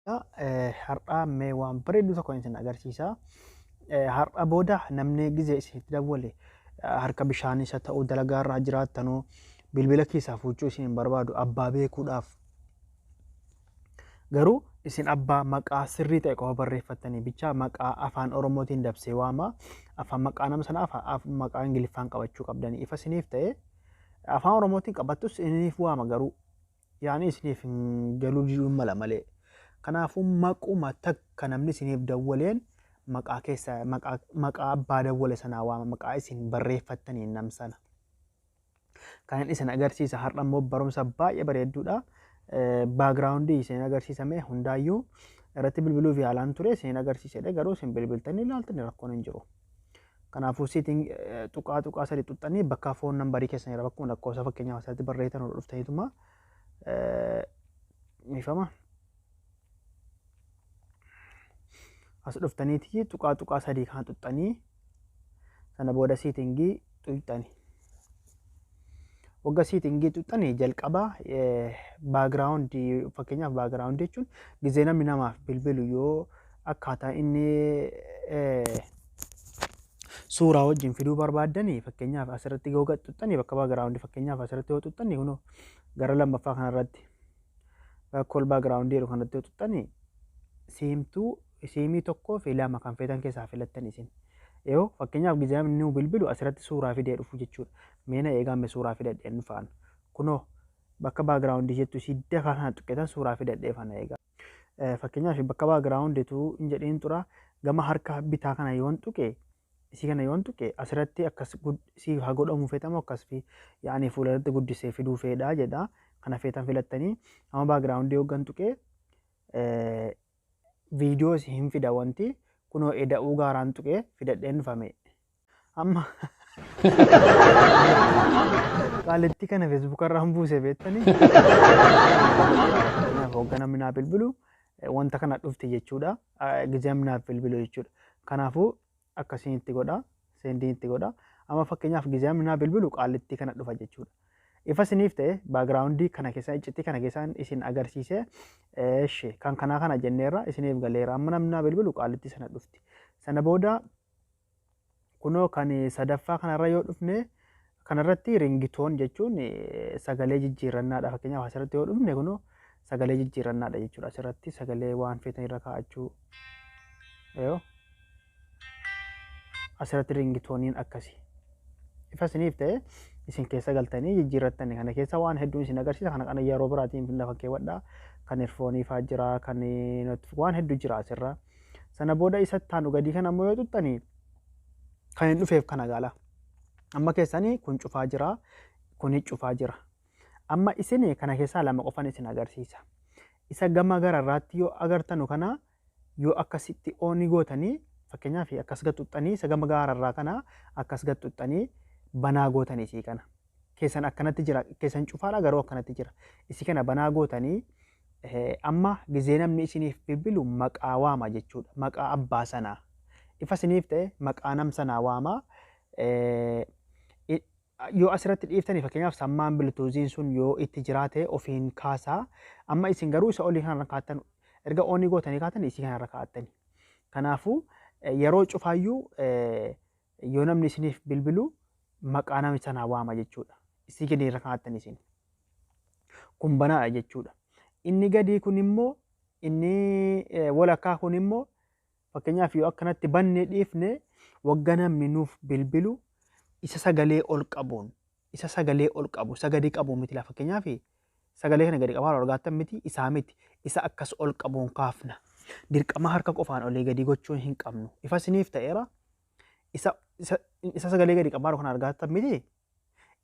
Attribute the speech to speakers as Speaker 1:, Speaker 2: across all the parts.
Speaker 1: Har'aa mee waan bareedduu tokko isin agarsiisa. Har'a booda namni gizee isiniif dawwale harka bishaanii isa ta'uu dalagaa irraa jiraattanuu bilbila keessaa fuuchuu isin hin barbaadu abbaa beekuudhaaf. Garuu isin abbaa maqaa sirrii ta'e qofa barreeffattanii bichaa maqaa afaan Oromootiin dabsee waama. Afaan maqaa nama sanaa afa- af- maqaa Ingiliffaan qabachuu qabdanii ifa isiniif ta'e afaan Oromootiin qabattus isiniif waama garuu yaani isiniif hin galuu diduun mala malee. Kanaafuu maquma takka namni isiniif dawwaleen maqaa keessa maqaa maqaa abbaa dawwale sanaa waama maqaa isin barreeffattaniin nam sana. Kanan isin agarsiisa har'a immoo barumsa baay'ee bareedduudha. Baagiraawundii isin agarsiisame hundaayyuu irratti bilbiluuf yaalaan ture isin agarsiisedha garuu isin bilbiltanii ilaaltanii rakkoon hin jiru. Kanaafuu setting tuqaa tuqaa sadi tuqxanii bakka foon nambarii keessan irra bakkuma lakkoofsa fakkeenyaaf asirratti barreessitan irra dhuftaniituma miifama. As dhuftaniiti tuqaa tuqaa sadii kan tuqxanii sana booda settingii tuqxanii. Wagga siitiin geexuxxani jalqaba background fakkeenyaaf background jechuun gizee namni namaaf bilbilu yoo akkaataa inni suuraa wajjin fiduu barbaaddani fakkeenyaaf asirratti yoo gaxxuxxani bakka background fakkeenyaaf asirratti yoo xuxxani kunoo gara lammaffaa kanarratti rakkoo background jedhu kanatti yoo xuxxani siimtuu isiimii tokkoo fi lama kan feetan keessaa filattan isin. Yoo fakkeenyaaf gizee nu bilbilu asirratti suuraa fidee dhufu jechuudha. Meena eegaa me suuraa fidadhee hin dhufaan. Kunoo bakka baagiraawundi jettu isii dafaa kana tuqqetan suuraa fidadhee fana eegaa. Fakkeenyaaf bakka baagiraawundi tuu hin jedhiin tura gama harka bitaa kana yoon tuqe isii kana yoon tuqe asirratti akkas isii haa godhamu feetamu akkas fi yaa'anii fuula irratti guddisee fiduu feedhaa jedha. Kana feetan filattanii amma baagiraawundi yoogan tuqee videos hin fida wanti kunoo eda'uu gaaraan tuqee fidadheen dhufa mee amma qaalittii kana facebook irraan buuse beettanii Kanaaf hogga namni naa bilbilu eh, wanta kana dhufte jechuudha Ah, gizee namni naaf bilbilu jechuudha kanaafuu akkasiin itti godha seendiin itti godha amma fakkeenyaaf gizaam naa bilbilu qaallittii kana dhufa jechuudha. Ifa isiniif ta'e baagiraawundii kana keessaa iccitii kana keessaan isin agarsiisee eeshe kan kanaa kana jenneerra isiniif galeera amma namni naa bilbilu qaallittii sana dhufti. Sana booda kunoo kan sadaffaa kanarra yoo dhufne Kana irratti ringitoon jechuun sagalee jijjiirrannaadha. Fakkeenyaaf asirratti yoo dhufne kunoo sagalee jijjiirrannaadha jechuudha. Asirratti sagalee waan feetan irra kaa'achuu. Yoo asirratti ringitooniin akkasi. Ifa isiniif ta'e isin keessa galtanii jijjiirrattani. Kana keessa waan hedduun isin agarsiisa. Kana kana yeroo biraatiin lafa keewwadha. Kan erfoonii fa'aa jira. Kan waan hedduu jira asirra. Sana booda isa taanu gadii kana ammoo yoo xuxxanii kan hin dhufeef kana gaala. Amma keessani kun cufaa jira, kuni cufaa jira. Amma isin kana keessaa lama qofan isin agarsiisa. Isa gama gara irraatti yoo agartanu kana yoo akkasitti ooni gootanii fakkeenyaaf akkas gad xuxxanii isa gama gaara irraa kana akkas gad xuxxanii banaa gootanii isii kana. Keessan akkanatti jira, keessan cufaadha garuu akkanatti jira. Isii kana banaa gootanii eh, amma gizee namni isiniif bilbilu maqaa waama jechuudha. Maqaa abbaa sanaa. Ifa isiniif ta'e maqaa nam sanaa waama. yoo asirratti dhiiftanii fakkeenyaaf sammaan biltuuziin sun yoo itti jiraate ofiin kaasaa amma isin garuu isa olii kanarra kaattan erga oonii gootanii kaatan isii kanarra kaa'attani. Kanaafuu yeroo cufaayyuu yoo namni isiniif bilbilu maqaa nama sanaa waama jechuudha. Isii gadi irra kaa'attan isin. Kun banaadha jechuudha. Inni gadii kun immoo inni walakkaa kun immoo Fakkeenyaaf yoo akkanatti bannee dhiifne wagga namni nuuf bilbilu isa sagalee ol qabuun isa sagalee ol qabu isa gadi qabu miti laa fakkeenyaaf sagalee kana gadi qabaa argaattan miti isaa miti isa akkas ol qabuun kaafna dirqama harka qofaan olii gadi gochuu hin qabnu ifa isiniif ta'eera isa isa isa sagalee gadi qabaa kana argaattan miti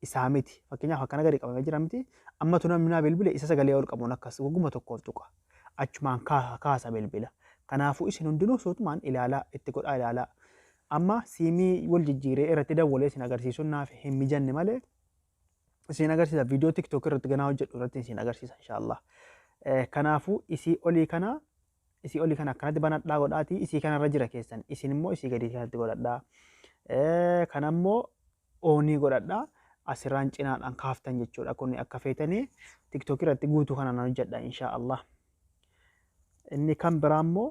Speaker 1: isaa miti. Fakkeenyaaf akkana gadi qabamee jira miti. Ammatu namni naa bilbile isa sagalee ol qabuun akkas wagguma tokkoof tuqa. Achumaan kaasa kaasa bilbila. Kanaafuu isin hundinuu suutumaan ilaalaa itti godhaa ilaalaa. Amma siimii wal jijjiiree irratti dawwalee isin agarsiisuun naaf hin mijanne malee isin agarsiisa viidiyoo tiktook irratti ganaa hojjedhu irratti isin agarsiisa inshaallah. Eh, Kanaafuu isii olii kana isii olii kana akkanatti banadhaa godhaatii isii kanarra jira keessan isin immoo isii gadii kanatti godhadhaa. Eh, Kana immoo onii godhadha asirraan cinaadhaan kaaftan jechuudha kun akka feetanii tiktok irratti guutuu kanaan hojjedha insha Allah inni kan biraa immoo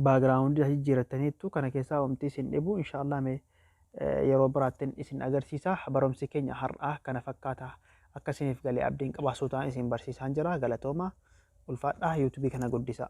Speaker 1: baagiraawundi as jijjiirattaniittu kana keessaa wamti isin dhibu insha Allah mee yeroo biraattin isin agarsiisa barumsi keenya har'aa kana fakkaata akka isiniif galee abdiin qabaa suutaan isin barsiisaan jira galatooma ulfaadhaa yuutubii kana guddisaa